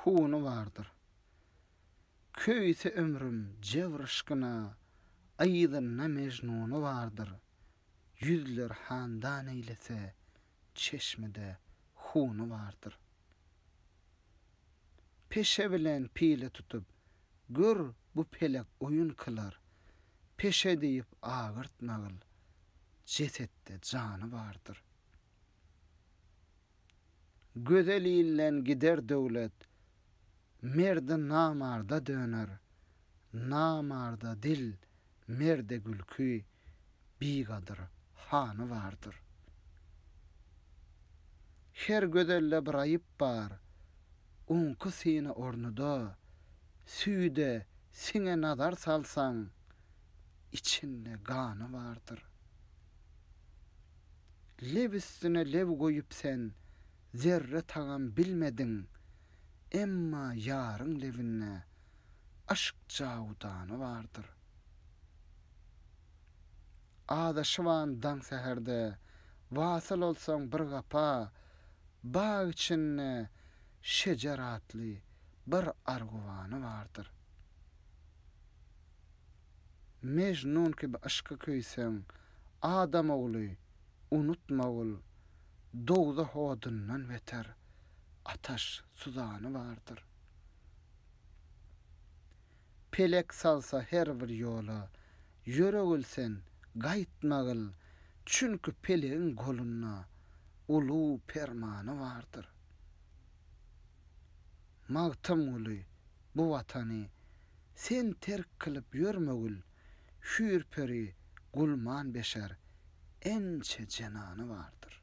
Huny bardyr. Köýse ömrüm jebr yşkyna, Yzynda Mejnuny bardyr. Ýüzler handan eýlese, çeşmede huny bardyr. Peşe bilen pile tutup, gör bu pelek oýun kylar, Peşe diýip agyrtmagyl, jesetde jany bardyr. Gözelinden gider döwlet, merdi namarda döner, Namarda dil, merde gülki, bigadyr hany bardyr. Her gözelde bir aýyp bar, oňki syny ornuda, Süýde, siňe nazar salsaň, içinde gany bardyr. Leb üstüne leb goýup sen zerre tagam bilmediň, emma ýaryň lebinde aşk jawudany bardyr. Azaşyban daň säherde, wasyl bolsaň bir gapa, bag içinde şejer atly bir arguwany bardyr. Mejnun kibi yşky küýseň, adam ogly, unutmagul, dowzah odundan beter, ataş, suzany bardyr. Pelek salsa her bir ýola, ýöregil sen, gaýtmagil, çünki pelegiň golunda ulu permany bardyr. Magtymguly, bu watany Sen terk kylyp ýörme gül Hüýr peri gulman beşer Ençe jenany bardyr.